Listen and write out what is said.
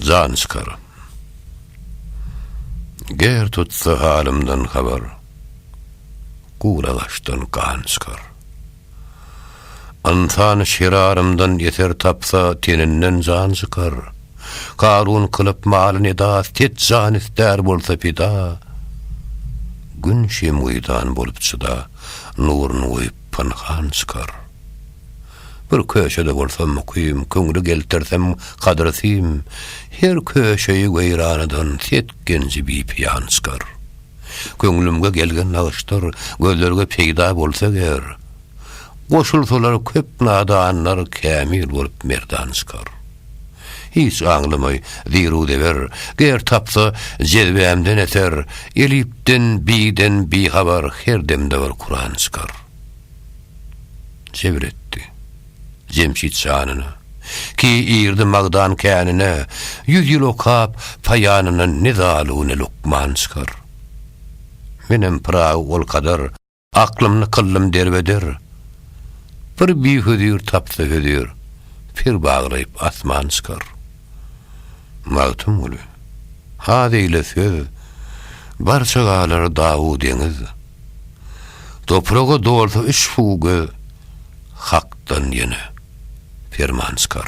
Jan çykar. Ger tutsa halymdan habar, Gura gaşdan gan çykar. Ynsan şirarymdan eser tapsa, Teninden jan çykar. Karun kylyp maly nida, Set jan ister bolsa pida, Gün şemgydan bolup çyda, Nuruny goýup pynhan çykar. Bir köşede bolsam mukym, Köňli geltersem gadyr sim, Her köşeyi weýranadan Set genji bipiýan çykar. Köňlümge gelgen nagyşdyr, Gözlerge peýda bolsa ger, Goşulsalar köp nadanlar, Kämil bolup merdan çykar. Hiç aňlamaý, ziru-zeber, Ger tapsa, jezbämden eser, Elipden, biden bihabar, Her demde bir Kuran çykar. Sebr etdi. Jemşit şanyna. Ki irdi magdan känine, Ýüz ýyl okap, paýanyna Ne zaluw, ne lukman çykar. Menem Pyragy ol kadar, Aklymny kyldym derbeder. Bir bihözir tapsa hözir, Per baglaýyp asman çykar. Magtymguly. Az eýle söz, Barça galar daw-u deňiz. Topraga dolsa üç fuge Hakdan ýene perman çykar.